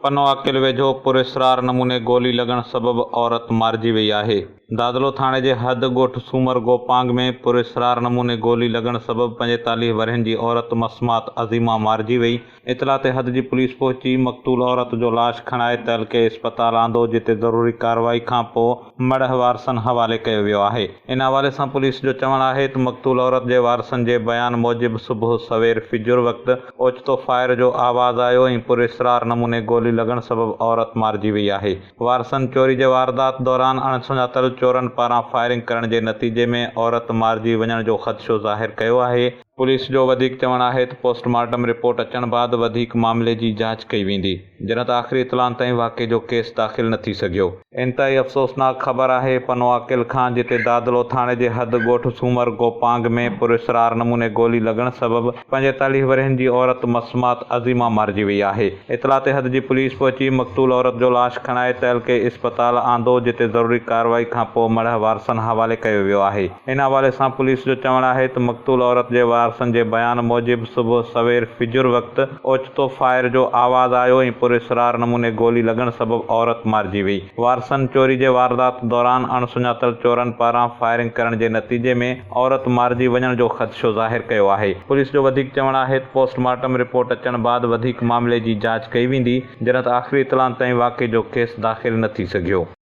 پنو عاقل ويجهو پراسرار نموني گولي لڳڻ سبب عورت مارجي وئي آهي. دادلو ٿاڻي جي حد ڳوٺ سومر گوپانگ ۾ پراسرار نموني گولي لڳڻ سبب پنجيتاليهه ورهين جي عورت مسمات عظيمه مارجي وئي. اطلاع تي حد جي پوليس پهچي مقتول عورت جو لاش کڻائي تعلقي اسپتال آندو جتي ضروري ڪارروائي کانپوء مڙهه وارثن حوالي ڪيو ويو آهي ان حوالي سان پوليس جو چوڻ آهي ته مقتول عورت جي وارثن جي بيان موجب صبح سوير فجر وقت اوچتو فائر جو آواز آيو ۽ پراسرار نموني گولي لڳڻ سبب عورت مارجي وئي آهي وارثن چوري جي واردات دوران اڻسڃاتل چورن پاران فائرنگ ڪرڻ جي نتيجي ۾ عورت مارجي وڃڻ جو خدشو ظاهر ڪيو آهي پوليس جو وڌيڪ چوڻ آهي ته پوسٽ مارٽم رپورٽ اچڻ بعد وڌيڪ معاملي جي جاچ ڪئي ويندي، جڏهن ته آخري اطلاعن تائين واقعي جو ڪيس داخل نه ٿي سگهيو. انتهائي افسوسناڪ خبر آهي پنوعاقل کان جتي دادلو ٿاڻي جي حد ڳوٺ سومر گوپانگ ۾ پراسرار نموني گولي لڳڻ سبب پنجيتاليهه ورهين جي عورت مسمات عظيمه مارجي وئي آهي اطلاع تي حد جي پوليس پهچي مقتول عورت جو لاش کڻائي تعلقي اسپتال آندو جتي ضروري ڪارروائي کانپوء مڙهه وارثن حوالي ڪيو ويو آهي. ان حوالي سان پوليس جو چوڻ آهي ته مقتول عورت جي وارثن جي بيان موجب صبح سوير فجر وقت اوچتو فائر جو آواز آيو ۽ پراسرار نموني گولي لڳڻ سبب عورت مارجي وئي. وارثن چوري جي واردات دوران اڻ سڃاتل چورن پاران فائرنگ ڪرڻ جي نتيجي ۾ عورت مارجي وڃڻ جو خدشو ظاهر ڪيو آهي. پوليس جو وڌيڪ چوڻ آهي ته پوسٽ مارٽم رپورٽ اچڻ بعد وڌيڪ معاملي جي جاچ ڪئي ويندي، جنھن تھ آخري اطلاعن تائين واقعي جو ڪيس داخل نھ ٿي سگھيو.